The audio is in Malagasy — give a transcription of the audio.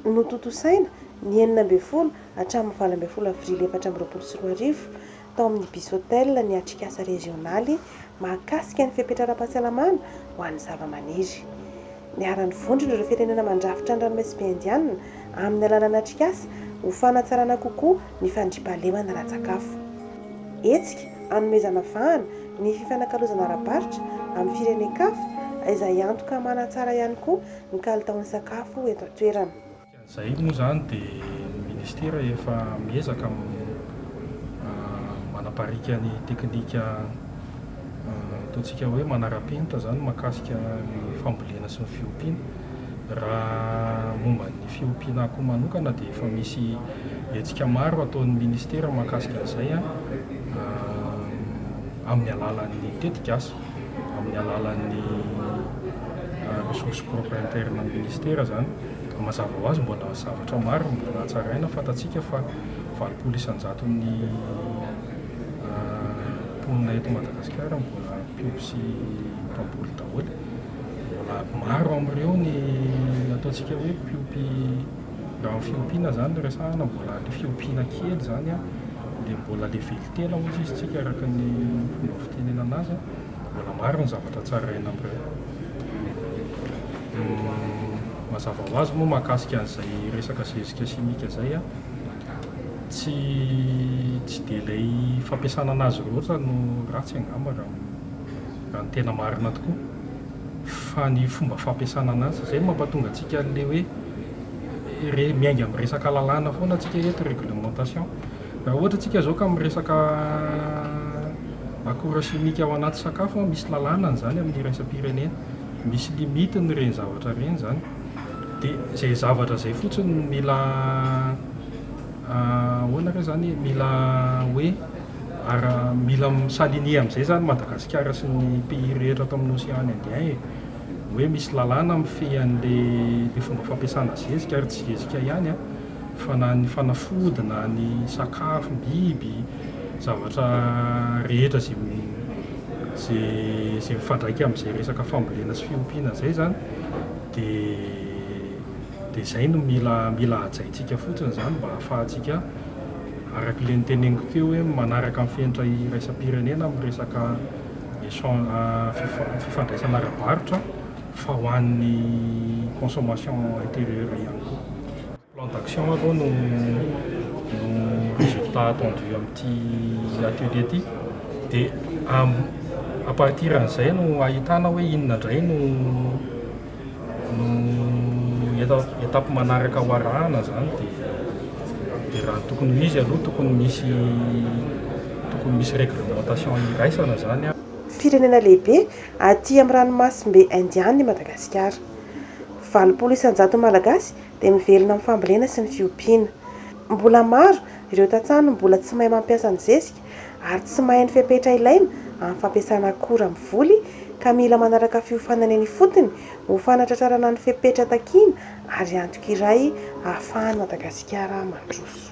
Notontosaina, ny enina ambin'ny folo hatramin'ny valo ambin'ny folo avrily efatra amby roapolo sy roa arivo, tao amin'ny Bisotel ny atrikasa rezionaly mahakasika ny fepetra ara-pahasalamana ho an'ny zavamaniry. Niara-nivondrona ireo firenena mandrafitra ny Ranomasimbe Indianina amin'ny alalan'ny atrikasa ho fanatsarana kokoa ny fandriampahalemana ara-tsakafo. Hetsika hanomezana vahana ny fifanakalozana ara-barotra amin'ny firenen-kafa izay antoka manatsara ihany koa ny kalitaon'ny sakafo eto an-toerana. Dikan'izay moa izany dia ny Minisitera efa miezaka manapariaka ny teknika ataontsika hoe manara-penitra izany mahakasika ny fambolena sy ny fiompiana. Raha momba ny fiompiana akoho manokana dia efa misy hetsika maro ataon'ny Minisitera mahakasika an'izay amin'ny alalan'ny tetik'asa. amin'ny alalan'ny ressource propre interne an'ny Ministera izany. Mazava ho azy mbola zavatra maro no mbola hatsaraina, fantatsika fa valopolo isan-jaton'ny mponina eto Madagasikara mbola mpiompy sy mpamboly daholo. Mbola maro amin'ireo ny ataontsika hoe mpiompy, raha ny fiompiana izany no resahana, mbola ilay fiompiana kely izany dia mbola level Tena ho tsisitsika araka ny fomba fitenenana azy mbola maro ny zavatra tsy araina amin'ireo. Ny mazava ho azy moa mahakasika an'izay resaka zezika simika izay, tsy tsy dia ilay fampiasana an'azy loatra no ratsy angamba raha ny raha ny tena marina tokoa fa ny fomba fampiasana an'azy. Izay no mampatonga antsika an'ilay hoe re- miainga amin'ny resaka lalàna foana tsika eto, réglementation. Raha ohatra tsika zao ka miresaka akora simika ao anaty sakafo an, misy lalàna ny zany amin'ny iraisam-pirenena, misy limite ny ireny zavatra ireny zany, dia izay zavatra izay fotsiny no mila ahoana re zany, mila hoe ara, mila mi-s'aligner amin'izay zany Madagasikara sy ny pays rehetra ato amin'ny Océan Indien e, hoe misy lalàna mifehy an'ilay fomba fampiasana zezika ary tsy zezika ihany an. fa na ny fanafody na ny sakafo, biby, zavatra rehetra izay izay mifandraika amin'izay resaka fambolena sy fiompiana izay izany dia dia izay no mila mila hajaintsika fotsiny izany mba hahafahantsika araka ilay noteneniko teo hoe manaraka ny fenitra iraisam-pirenena amin'ny resaka echan- fifandraisana ara-barotra. fa ho an'ny consommation intérieure ihany koa. Plan d'action aloha no no résultat attendu amin'ity atelier ity dia à partir an'izay no ahitana hoe inona indray no no étape manaraka ho arahana izany dia dia raha tokony ho izy aloha tokony misy tokony misy réglementation iraisana izany an. Firenena lehibe Aty amin'ny ranomasimbe Indiana i Madagasikara. Valopolo isan-jaton'ny Malagasy dia mivelona amin'ny fambolena sy ny fiompiana. Mbola maro ireo tantsaha no mbola tsy mahay mampiasa ny zezika ary tsy mahay ny fepetra ilaina amin'ny fampiasana akora amin'ny voly ka mila manaraka fiofanana eny ifotony ho fanatratrarana ny fepetra takiana ary antoka iray ahafahan'i Madagasikara mandroso.